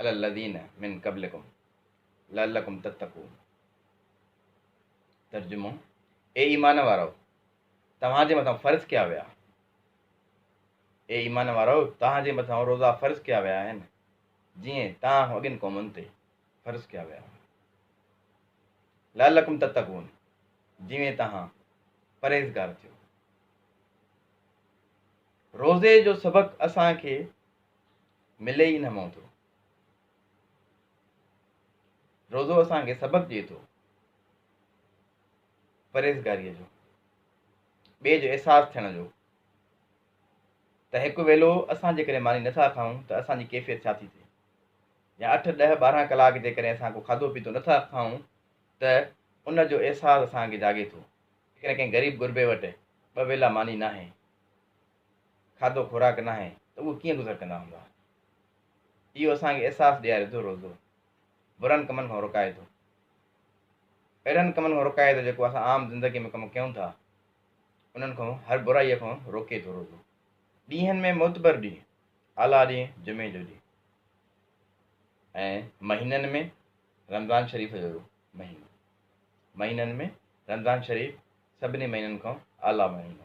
علي الذين من قبلکم لعلکم تتقون ترجمو، اي ايمان وارؤ! توهان جي مٿان فرض ڪيا ويا اي ايمان وارؤ! توهان جي مٿان روزا فرض ڪيا ويا آهن، جيئن توهان اڳين قومن تي فرض ڪيا ويا هئا. لعلکم تتقون جيئن توهان پرهيزگار ٿيو. روزي جو سبق اسان کي ملي ئي نه مئوندو. روزو اسان کي سبق ڏئي ٿو پرهيزگاريء جو، ٻئي جو احساس ٿيڻ جو ته هڪ ويلو اسان جيڪڏهن ماني نٿا کائون ته اسان جي ڪيفيت ڇا ٿي ٿئي يا اٺ ڏهه ٻارهن ڪلاڪ جيڪڏهن اسان ڪو کاڌو پيتو نٿا کائون ته ان جو احساس اسان کي جاڳي ٿو جيڪڏهن ڪنهن غريب غربي وٽ ٻه ويلا ماني ناهي کاڌو خوراڪ ناهي ته اهي ڪيئن گذر ڪندا هوندا. اهو اسان کي احساس ڏياري ٿو روزو برن ڪمن کان روڪائي ٿو. اهڙن ڪمن کان روڪائي ٿو جيڪو اسان عام زندگي ۾ ڪم ڪيون ٿا انهن کان هر برائي کان روڪي ٿو روزو ڏينهن ۾ معتبر ڏينهن اعليٰ ڏينهن جمعي جو ڏينهن ۽ مهينن ۾ رمضان شريف جو مهينو مهينن ۾ رمضان شريف سڀني مهينن کان اعليٰ مهينو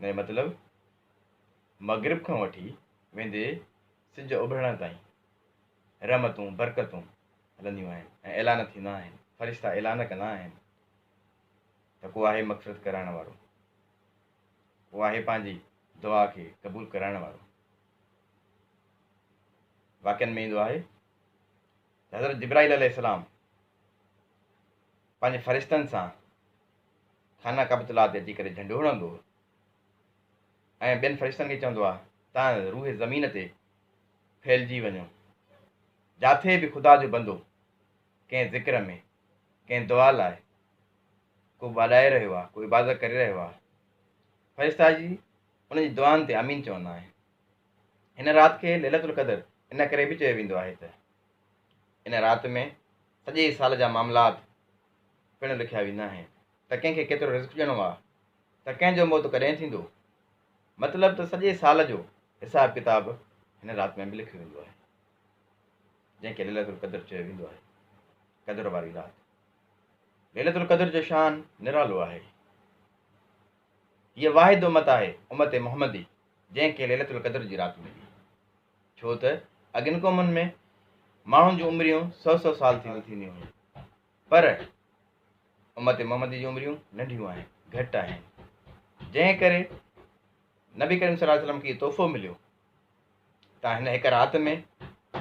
ان جو مطلب مغرب کان وٺي ويندي سج اڀرڻ تائين رحمتون برڪتون هلنديون آهن ۽ اعلان ٿيندا آهن فرشتا اعلان ڪندا آهن ته ڪو آهي مغفرت ڪرائڻ وارو ڪو آهي پنهنجي دعا کي قبول ڪرائڻ وارو واقعن ۾ ايندو آهي حضرت جبرائيل عليه السلام پنهنجي فرشتن سان خانه ڪعبة الله تي اچي ڪري جهنڊو هڻندو هو ۽ ٻين فرشتن کي چوندو آ تان روح زمين تي ڦهلجي وڃو جاٿي به خدا جو بندو ڪنهن ذڪر ۾ ڪنهن دعا لاء ڪو ٻاڏائي رهيو آ ڪو عبادت ڪري رهيو آ فرشتا جي ان جي دعائن تي امين چوندا آهن هن رات کي ليلة القدر ان ڪري به چيو ويندو آهي ته ان رات ۾ سڄي سال جا معاملات پڻ لکيا ويندا آهن ته ڪنهن کي ڪيترو رزق ڏيڻو آهي ته ڪنهن جو موت ڪڏهن ٿيندو مطلب ته سڄي سال جو حساب ڪتاب هن رات ۾ به لکيو ويندو آهي جنهن کي ليلة القدر چيو ويندو آهي قدر واري رات ليلة القدر جو شان نرالو آهي هيء واحد امت آهي امت محمدي جنهن کي ليلة القدر جي رات ملي، ڇو ته اڳين قومن ۾ ماڻهن جون عمريون سؤ سؤ سال ٿينديون ٿينديون هيون پر امت محمدي جون عمريون ننڍيون آهن، گهٽ آهن، جنهن ڪري نبي ڪريم صلي الله عليه وسلم کي تحفو مليو ته هن هڪ رات ۾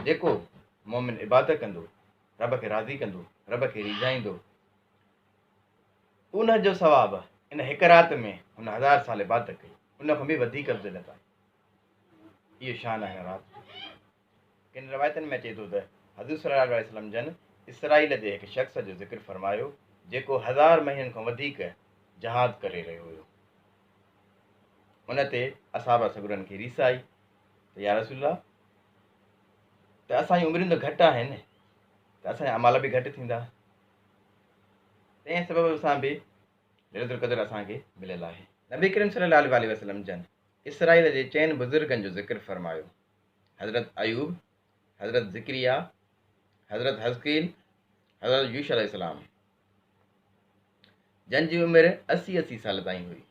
جيڪو مومن عبادت ڪندو رب کي راضي ڪندو رب کي ريجهائيندو ان جو ثواب ان هڪ رات ۾ هن هزار سال عبادت ڪئي ان کان به وڌيڪ افضليت آهي اهو شان آهي رات جو ڪن روايتن ۾ اچي ٿو ته حضور صلي الله عليه وسلم جن اسرائيل جي هڪ شخص جو ذڪر فرمايو جيڪو هزار مهينن کان وڌيڪ جهاد ڪري رهيو هيو ان تي اصحاب سگرن کي ريس آئي ته يا رسول الله ته اسان جون عمريون ته گهٽ آهن ته اسان جا امال به گهٽ ٿيندا تنهن سبب سان به ليلة القدر اسان کي مليل آهي. نبي ڪريم صلي الله عليه وآله وسلم جن اسرائيل جي چئن بزرگن جو ذڪر فرمايو، حضرت ايوب، حضرت ذڪريا، حضرت حزقيل، حضرت يوشع عليه السلام، جن جي عمر اسي اسي سال تائين هئي.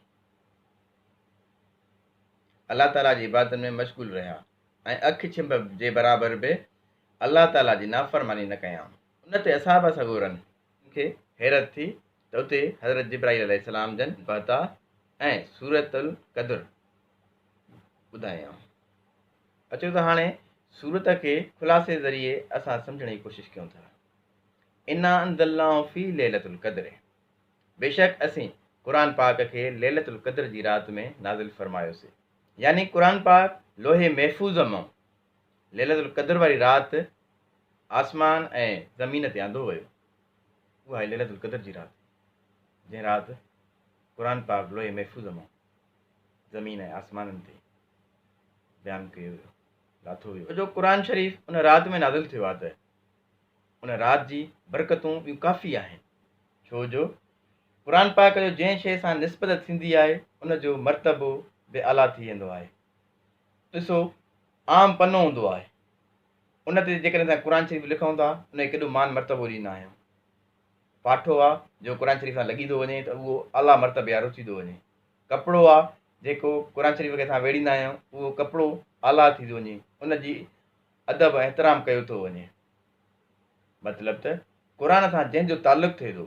الله تعاليٰ جي عبادتن ۾ مشغول رهيا ۽ اک ڇنڀ جي برابر به الله تعاليٰ جي نافرماني نه ڪيائون. ان تي اصحاب صغورن کي حيرت ٿي ته اتي حضرت جبرائيل عليه السلام جن بهتا ۽ سورة القدر ٻڌايائون. اچو ته هاڻي سورت کي خلاصي ذريعي اسان سمجهڻ جي ڪوشش ڪيون ٿا. انا انزلناه في ليلة القدر بيشڪ اسين قرآن پاڪ کي ليلة القدر جي رات ۾ نازل فرمايوسي يعني قرآن پاڪ لوح محفوظ مان ليلة القدر واري رات آسمان ۽ زمين تي آندو ويو اها آهي ليلة القدر جي رات جنهن رات قرآن پاڪ لوح محفوظ مان زمين ۽ آسمانن تي بيان ڪيو ويو لاٿو ويو جو قرآن شريف ان رات ۾ نازل ٿيو آهي ته ان رات جي برڪتون ٻيون ڪافي آهن ڇو جو قرآن پاڪ جو جنهن شيء سان نسبت ٿيندي آهي ان جو مرتبو به اعليٰ ٿي ويندو آهي ڏسو عام پنو هوندو آهي ان تي جيڪڏهن اسان قرآن شريف لکون ٿا ان کي ڪيڏو مان مرتبو ڏيندا آهيون پاٺو آهي جو قرآن شريف سان لڳي ٿو وڃي ته اهو اعليٰ مرتبي وارو ٿي ٿو وڃي ڪپڙو آهي جيڪو قرآن شريف کي اسان ويڙهيندا آهيون اهو ڪپڙو اعليٰ ٿي ٿو وڃي ان جي ادب احترام ڪيو ٿو وڃي مطلب ته قرآن سان جنهن جو تعلق ٿئي ٿو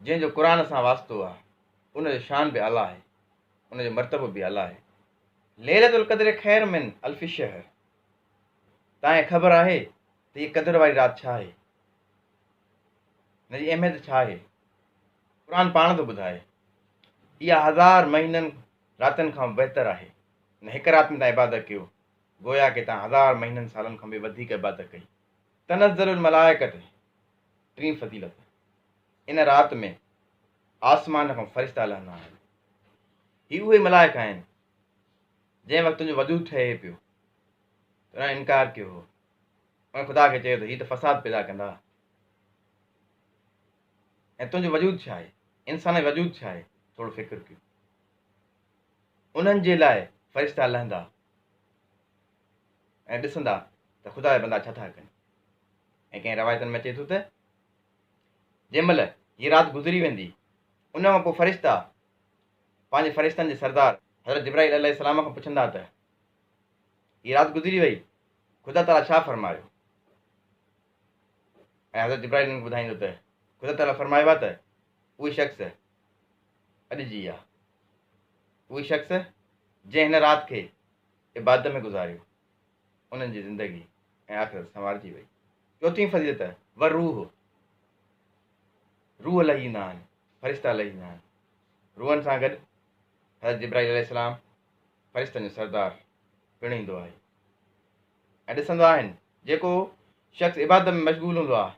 جنهن جو قرآن سان واسطو آهي ان جو شان به اعليٰ آهي ان جو مرتبو به اعليٰ آهي ليلة القدر خير من الف شهر تانئين خبر آهي ته هي قدر واري رات ڇا آهي ان جي اهميت ڇا آهي قرآن پاڻ ٿو ٻڌائي اها هزار مهينن راتن کان بهتر آهي ان هڪ رات ۾ تان عبادت ڪيو گويا ڪي تان هزار مهينن سالن کان به وڌيڪ عبادت ڪئي تنزل الملائڪة ٽين فضيلت، ان رات ۾ آسمان کان فرشتا لهندا آهن، هي اهي ملائڪ آهن جنهن وقت تنهنجو وجود ٺهي پيو ته انهن انڪار ڪيو هو انهن خدا کي چيو ته هي ته فساد پيدا ڪندا ۽ تنهنجو وجود ڇا آهي انسان جو وجود ڇا آهي ٿورو فڪر ڪيو انهن جي لاء فرشتا لهندا ۽ ڏسندا ته خدا جا بندا ڇا ٿا ڪن ۽ ڪنهن روايتن ۾ اچي ٿو ته جنهن مهل هي رات گذري ويندي ان کان پوء فرشتا پنهنجي فرشتن جي سردار حضرت جبرائيل عليه السلام کان پڇندا ته هي رات گذري وئي خدا تعالي ڇا فرمايو ۽ حضرت جبرائيل انهن کي ٻڌائيندو ته خدا تعالي فرمايو آ ته اهي شخص اڄ جي آ اهي شخص جنهن هن رات کي عبادت ۾ گذاريو، انهن جي زندگي ۽ آخرت سنوارجي وئي. چوٿين فضيلت، والروح، روح لهي ايندا آهن، فرشتا لهي ايندا آهن. روحن سان گڏ حضرت جبرائيل عليه السلام، فرشتن جو سردار، پڻ ايندو آهي ۽ ڏسندا آهن. جيڪو شخص عبادت ۾ مشغول هوندو آهي،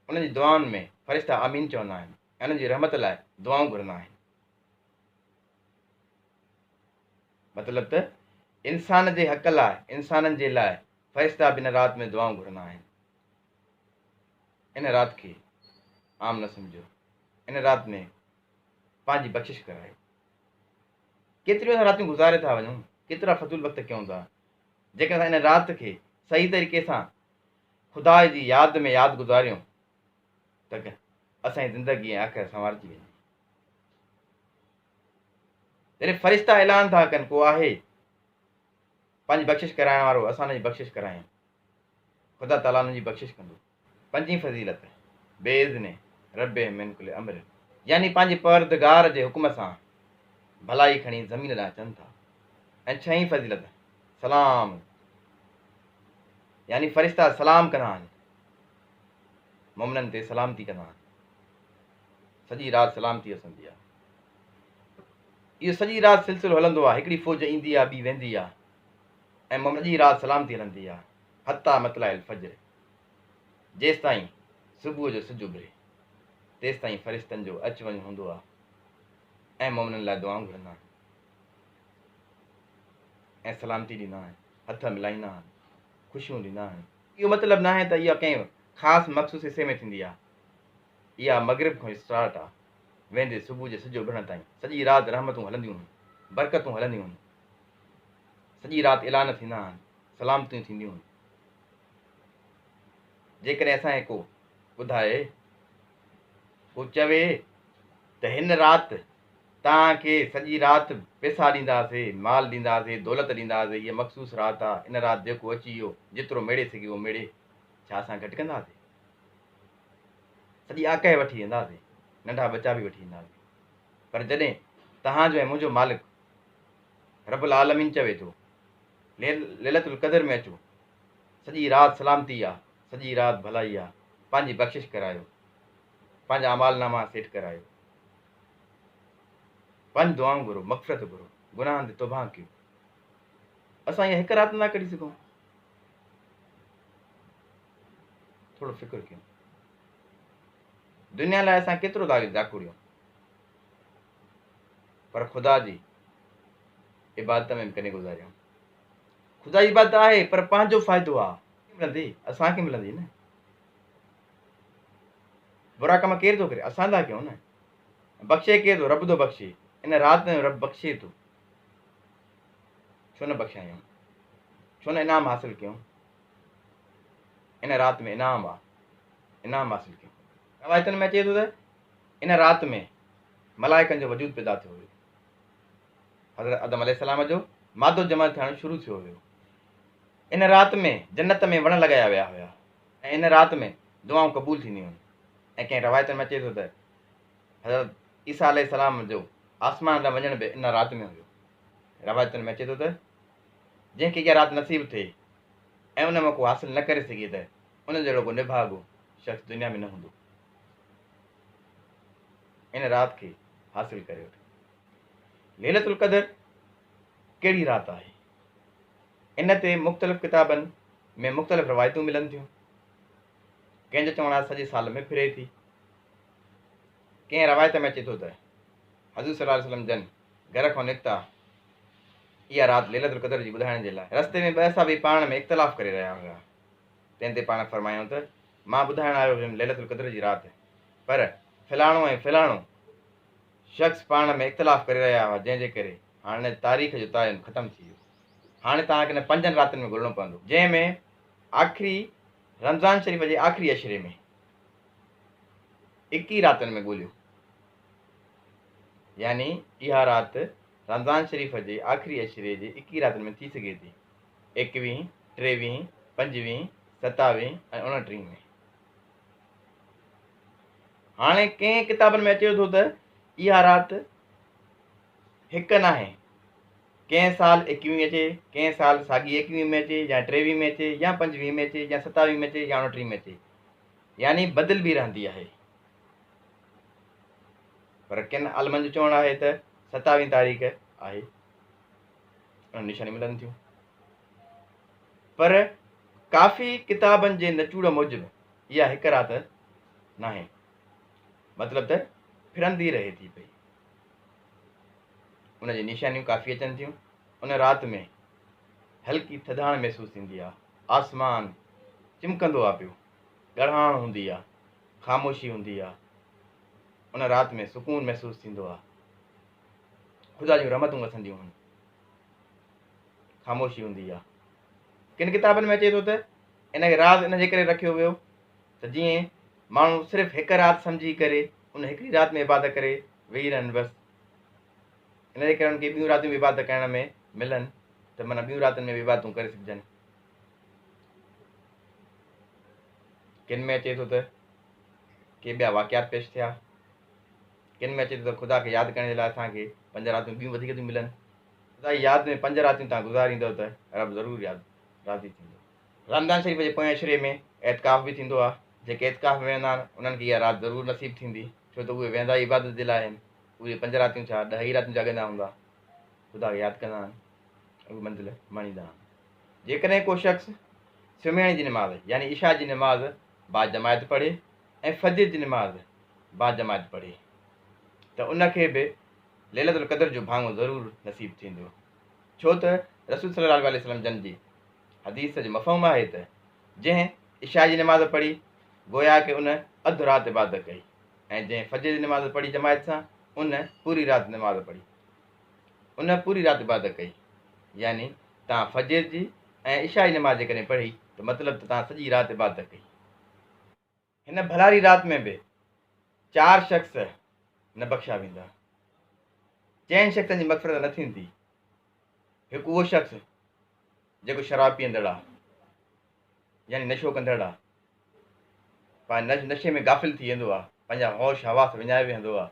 انهن جي دعائن ۾ فرشتا آمين چوندا آهن ۽ انهن جي رحمت لاء دعائون گهرندا آهن. مطلب ته انسان جي حق لاء انسانن جي لاء فرشتا به ان رات ۾ دعائون گهرندا آهن. ان رات کي عام نه سمجهيو. ان رات ۾ پنهنجي بخشش ڪرايو. ڪيتريون اسان راتيون گذاري ٿا وڃون، ڪيترا فضول وقت ڪيون ٿا. جيڪڏهن اسان ان رات کي صحيح طريقي سان خدا جي ياد ۾ ياد گذاريون ته اسان جي زندگي ۽ آخرت سنوارجي ويندي. يعني فرشتا اعلان ٿا ڪن ڪو آهي پنهنجي بخشش ڪرائڻ وارو اسان ان جي بخشش ڪرايون خدا تعاليٰ ان جي بخشش ڪندو پنجين فضيلت بي اذن رب من کل امر يعني پنهنجي پردگار جي حڪم سان ڀلائي کڻي زمين ڏانهن اچن ٿا ۽ ڇهين فضيلت سلام يعني فرشتا سلام ڪندا آهن مومنن تي سلامتي ڪندا آهن سڄي رات سلامتي اسندي آ. اهو سڄي رات سلسلو هلندو آ، هڪڙي فوج ايندي آ، ٻي ويندي آ ۽ مم سڄي رات سلامتي هلندي آ حتيٰ مطلع الفجر، جيستائين صبح جو سج اڀري، تيستائين فرشتن جو اچ وڃ هوندو آ ۽ مؤمنن لاء دعائون گهرندا آهن ۽ سلامتي ڏيندا آهن، هٿ ملائيندا آهن، خوشيون ڏيندا آهن. اهو مطلب ناهي ته اها ڪنهن خاص مخصوص حصي ۾ ٿيندي آ، اها مغرب کان اسٽارٽ آ ويندي صبح جي سج اڀرڻ تائين سڄي رات رحمتون هلنديون هن برڪتون هلنديون هن سڄي رات اعلان ٿيندا هن سلامتيون ٿينديون هن جيڪڏهن اسان کي ڪو ٻڌائي ڪو چوي ته هن رات تان کي سڄي رات پيسا ڏينداسي مال ڏينداسي دولت ڏينداسي هي مخصوص رات آ ان رات جيڪو اچي ويو جيترو ميڙي سگهي اهو ميڙي ڇا اسان گهٽ ڪنداسي سڄي آڪهه وٺي وينداسين، ننڍا ٻچا به وٺي اينداسين، پر جڏهن توهان جو ۽ منهنجو مالڪ رب العالمين چوي ٿو ليلة القدر ۾ اچو، سڄي رات سلامتي آ، سڄي رات ڀلائي آ، پنهنجي بخشش ڪرايو، پنهنجا اعمال ناما سيٽ ڪرايو، پنهنجون دعائون گهرو، مغفرت گهرو، گناهن تي توبهان ڪيو. اسان اها هڪ رات نٿا ڪڍي سگهون. ٿورو فڪر ڪيون دنيا لاء اسان ڪيترو ٿا جاکوڙيون پر خدا جي عبادت ۾ ڪني گذاريون خدا جي عبادت آهي پر پنهنجو فائدو آ ملندي اسان کي ملندي نه برا ڪم ڪير ٿو ڪري اسان ٿا ڪيون نه بخشي ڪير ٿو رب ٿو بخشي ان رات ۾ رب بخشي ٿو ڇو نه بخشايون، ڇو نه انعام حاصل ڪيون، ان رات ۾ انعام آ، انعام حاصل ڪيون. روايتن ۾ اچي ٿو ته ان رات ۾ ملائڪن جو وجود پيدا ٿيو هيو. حضرت آدم عليه السلام جو مادو جمع ٿيڻ شروع ٿيو هيو. ان رات ۾ جنت ۾ وڻ لڳايا ويا هيا ۽ ان رات ۾ دعائون قبول ٿينديون هيون ۽ ڪنهن روايتن ۾ اچي ٿو ته حضرت عيسيٰ عليه السلام جو آسمان ڏانهن وڃڻ به ان رات ۾ هيو روايتن ۾ اچي ٿو ته جنهن کي اها رات نصيب ٿئي ۽ ان موقعو حاصل نه ڪري سگهي ته ان جهڙو ڪو نڀاڳو شخص دنيا ۾ نه هوندو ان رات کي حاصل ڪري وٺو ليلت القدر ڪهڙي رات آهي ان تي مختلف ڪتابن ۾ مختلف روايتون ملن ٿيون ڪنهن جو چوڻ آهي سڄي سال ۾ ڦري ٿي ڪنهن روايت ۾ اچي ٿو ته حضور صلي الله عليه وسلم جن گهر کان نڪتا اها رات ليلة القدر جي ٻڌائڻ جي لاء رستي ۾ ٻه صحابي پاڻ ۾ اختلاف ڪري رهيا هيا تنهن تي پاڻ فرمايائون ته مان ٻڌائڻ آيو هيم ليلة القدر جي رات پر فلاڻو ۽ فلاڻو شخص پاڻ ۾ اختلاف ڪري رهيا هئا جنهن جي ڪري هاڻي تاريخ جو تعين ختم ٿي ويو هاڻي توهان کي پنجن راتن ۾ گهلڻو پوندو جنهن ۾ آخري رمضان شريف جي آخري عشري ۾ ايڪيهه راتن ۾ ڳوليو يعني اها رات رمضان شريف جي آخري عشري جي ايڪيهه راتن ۾ ٿي سگهي ٿي، ايڪويهه، ٽيويهه، پنجويهه، ستاويهه ۽ اڻٽيهه ۾. هاڻي ڪئين ڪتابن ۾ اچي ٿو ته اها رات هڪ ناهي، ڪئين سال ايڪويهه اچي، ڪئين سال ساڳي ايڪويهه ۾ اچي يا ٽيويهه ۾ اچي يا پنجويهه ۾ اچي يا ستاويهه ۾ اچي يا اڻٽيهه ۾ اچي. يعني بدلبي رهندي آهي. پر ڪن عالمن جو چوڻ آهي ته ستاويهين تاريخ آهي ان نشاني ملن ٿيون پر ڪافي ڪتابن جي نچوڙ موجب اها هڪ رات ناهي مطلب ته ڦرندي رهي ٿي پئي ان جي نشانيون ڪافي اچن ٿيون ان رات ۾ هلڪي ٿڌاڻ محسوس ٿيندي آهي آسمان چمڪندو آ پيو. ڳڙهاڻ هوندي آ. خاموشي هوندي آ. ان رات ۾ سڪون محسوس ٿيندو آ. خدا جون رحمتون وسنديون هن. خاموشي هوندي آ. ڪن ڪتابن ۾ اچي ٿو ته ان کي راز ان جي ڪري رکيو ويو ته جيئن ماڻهو صرف هڪ رات سمجهي ڪري ان هڪڙي رات ۾ عبادت ڪري ويهي رهن بس. ان جي ڪري انهن کي ٻيون راتيون به عبادت ڪرڻ ۾ ملن ته معنيٰ ٻيون راتين ۾ به عبادتون ڪري سگهجن ڪن ۾ اچي ٿو ته ڪي ٻيا واقعات پيش ٿيا ڪن ۾ اچي ٿو ته خدا کي ياد ڪرڻ جي لاء اسان کي پنج راتيون ٻيون وڌيڪ ٿيون ملن خدا جي ياد ۾ پنج راتيون تان گذاريندو ته رب ضرور ياد راضي ٿيندو رمضان شريف جي پوئين عشري ۾ اعتڪاف به ٿيندو آهي جيڪي اعتڪاف ۾ ويهندا آهن انهن کي اها رات ضرور نصيب ٿيندي ڇو ته اهي ويهندا ئي عبادت جي لاء آهن اهي پنج راتيون ڇا ڏهه ئي راتيون جاڳندا هوندا، خدا کي ياد ڪندا آهن ۽ اهي منزل ماڻيندا آهن. جيڪڏهن ڪو شخص سمهڻ جي نماز يعني عشاء جي نماز باجماعت پڙهي ۽ فجر جي نماز باجماعت پڙهي ته ان کي به ليلة القدر جو ڀاڱو ضرور نصيب ٿيندو ڇو ته رسول صلي الله عليه وسلم جن جي حديث جو مفهوم آهي ته جنهن عشاء جي نماز پڙهي گويا ڪي ان اڌ رات عبادت ڪئي. ۽ جنهن فجر جي نماز پڙهي جماعت سان ان پوري رات نماز پڙهي ان پوري رات عبادت ڪئي يعني تان فجر جي ۽ عشاء جي نماز جيڪڏهن پڙهي ته مطلب ته تان سڄي رات عبادت ڪئي هن ڀلاري رات ۾ به چار شخص نه بخشا ويندا چئن شخصن جي مغفرت نه ٿيندي هڪ اهو شخص جيڪو شراب پيئندڙ آهي يعني نشو ڪندڙ آهي پنهنجي نشي ۾ غافل ٿي ويندو آهي، پنهنجا هوش حواس وڃائي ويهندو آهي،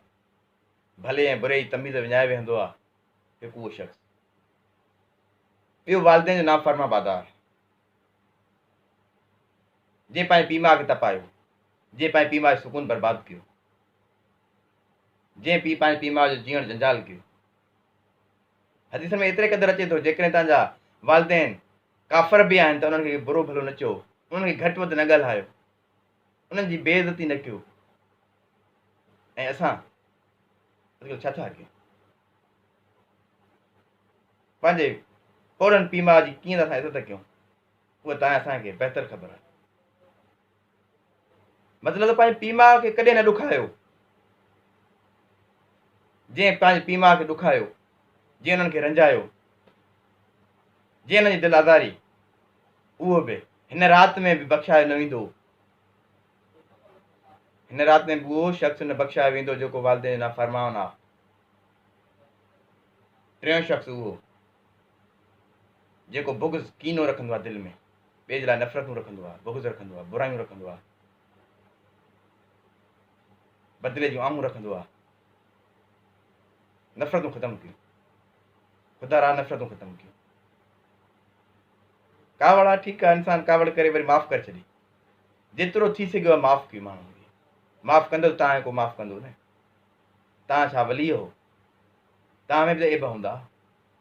ڀلي ۽ بري جي تميز وڃائي ويهندو آهي هڪ اهو شخص. ٻيو والدين جو نافرما بادار، جنهن پنهنجي پيء ماء کي تپايو، جنهن پنهنجي پيء ماء جو سڪون برباد ڪيو، جنهن پيء پنهنجي پيء ماء جو جيئڻ جنجال ڪيو. حديثن ۾ ايتري قدر اچي ٿو جيڪڏهن توهان جا والدين ڪافر به آهن ته انهن کي برو ڀلو نه چئو، انهن کي گهٽ وڌ نه ڳالهايو، انهن جي بي عزتي نه ڪيو ۽ اسان اڄڪلهه ڇا ٿا ڪيون؟ پنهنجي پوڙهن پيء ماء جي ڪيئن ته اسان عزت ڪيون اها تانئن اسان کي بهتر خبر آهي. مطلب ته پنهنجي پيء ماء کي ڪڏهن نه ڏکايو جنهن پنهنجي پيء ماء کي ڏکايو جنهن انهن کي رنجايو جنهن انهن جي دل آزاري اهو به هن رات ۾ به بخشايو نه ويندو هن رات ۾ به اهو شخص نه بخشايو ويندو جيڪو والدين جو نافرمان آ ٽيون شخص اهو جيڪو بغض ڪينو رکندو آ دل ۾ ٻئي جي لاء نفرتون رکندو آهي، بغض رکندو آهي، برايون رکندو آهي، بدلي جون آهون رکندو آهي. نفرتون ختم ڪيون. خدا را نفرتون ختم ڪيون. ڪاوڙ آ ٺيڪ آ انسان ڪاوڙ ڪري وري معاف ڪري ڇڏي جيترو ٿي سگهيو آ معاف ڪيو ماڻهو معاف ڪندو تا کو معاف ڪندو نه تا ڇا ولي هو تا ۾ به ايب هوندا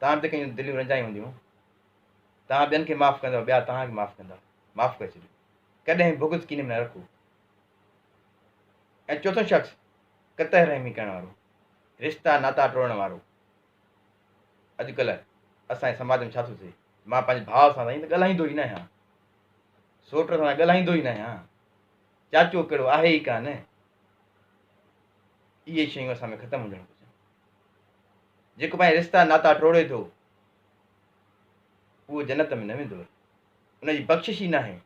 تا به ڪيون دليون رنجائي هونديون توهان ٻين کي معاف ڪندؤ، ٻيا توهان کي معاف ڪندا. معاف ڪري ڇڏيو. ڪڏهن بغض ڪيني ۾ نه رکو. ۽ چوٿون شخص، قطع رحمي ڪرڻ وارو، رشتا ناتا ٽوڙڻ وارو. اڄڪلهه اسان جي سماج ۾ ڇا ٿو ٿئي، مان پنهنجي ڀاء سان سائين ته ڳالهائيندو ئي نه آهيان، سوٽ سان ته ڳالهائيندو ئي نه آهيان، چاچو ڪهڙو آهي ئي ڪا نه. اهي شيون اسان ۾ ختم هجڻ گهرجن. جيڪو پنهنجا رشتا ناتا ٽوڙي ٿو، اهو جنت ۾ نه ويندو رهي، ان جي بخشش ئي ناهي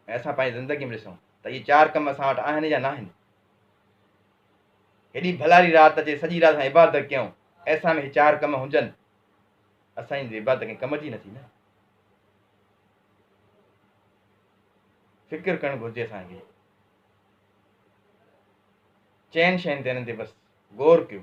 ۽ اسان پنهنجي زندگي ۾ ڏسون ته اهي چار ڪم اسان وٽ آهن يا ناهن. هيڏي ڀلاري رات اچي سڄي رات اسان عبادت ڪيون ايسا ۾ هي چار ڪم هجن اسان جي عبادت ڪنهن ڪم جي نه ٿي نه فڪر ڪرڻ گهرجي اسان کي چئن شين تي هنن تي بس غور ڪيو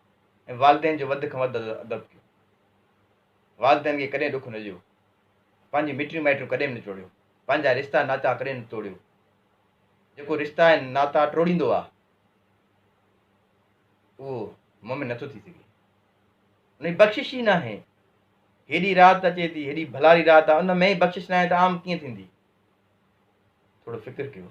۽ والدين جو وڌ کان وڌ ادب ڪيو. والدين کي ڪڏهن ڏک نه ڏيو. پنهنجي مٽيون مائٽون ڪڏهن به نه ٽوڙيو. پنهنجا رشتا ناتا ڪڏهن نه ٽوڙيو. جيڪو رشتا ۽ ناتا ٽوڙيندو آهي اهو مومن نٿو ٿي سگهي. ان جي بخشش ئي ناهي. هيڏي رات اچي ٿي هيڏي ڀلاري رات آهي ان ۾ ئي بخشش ناهي ته عام ڪيئن ٿيندي. ٿورو فڪر ڪيو.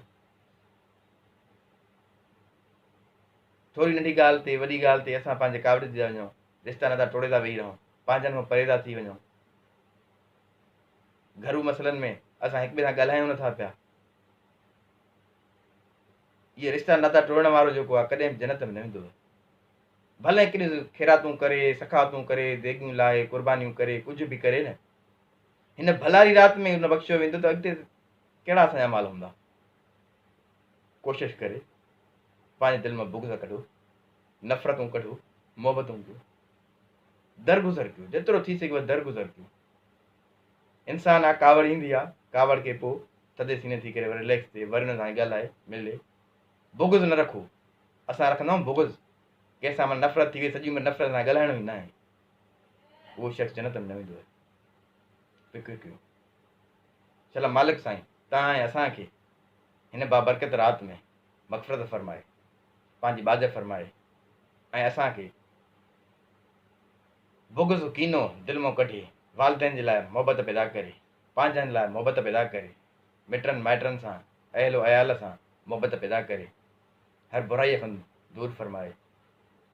ٿوري ننڍي ڳالهه تي، وڏي ڳالهه تي اسان پنهنجي ڪاوڙي تي ٿا وڃون، رشتا ناتا ٽوڙي ٿا ويهي رهون، پنهنجن کان پري ٿا ٿي وڃون. گهرو مسئلن ۾ اسان هڪ ٻئي سان ڳالهايون نه ٿا پيا. اهي رشتا ناتا ٽوڙڻ وارو جيڪو آهي ڪڏهن به جنت ۾ نه ويندو آهي. ڀلي ڪن خيراتون ڪري، سخاوتون ڪري، ديڳيون لاهي، قربانيون ڪري، ڪجهه به ڪري نه. هن ڀلاري رات ۾ نه بخشيو ويندو ته اڳتي ڪهڙا اسان جا مال هوندا. ڪوشش ڪري پنهنجي دل مان بغض ڪڍو، نفرتون ڪڍو، محبتون ڪيو، درگذر ڪيو، جيترو ٿي سگهيو درگذر ڪيو. انسان آ ڪاوڙ ايندي آ، ڪاوڙ کي پوء ٿڌي سيني ٿي ڪري وري ريليڪس ٿئي، وري هن سان ڳالهائي، ملي. بغض نه رکو، اسان رکندا آهيون بغض، ڪنهن سان من نفرت ٿي وئي سڄي عمر نفرت سان ڳالهائڻو ئي ناهي، اهو شخص جنت ۾ نه ويندو آهي، فڪر ڪيو. ڇلا مالڪ سائين تنهان ۽ اسان کي هن بابرڪت رات ۾ مغفرت فرمائي پنهنجي ٻاجهه فرمائي ۽ اسان کي بغض و ڪينو دل مون ڪڍي والدين جي لاء محبت پيدا ڪري پنهنجن لاء محبت پيدا ڪري مٽن مائٽن سان اهل و عيال سان محبت پيدا ڪري هر برائي کان دور فرمائي.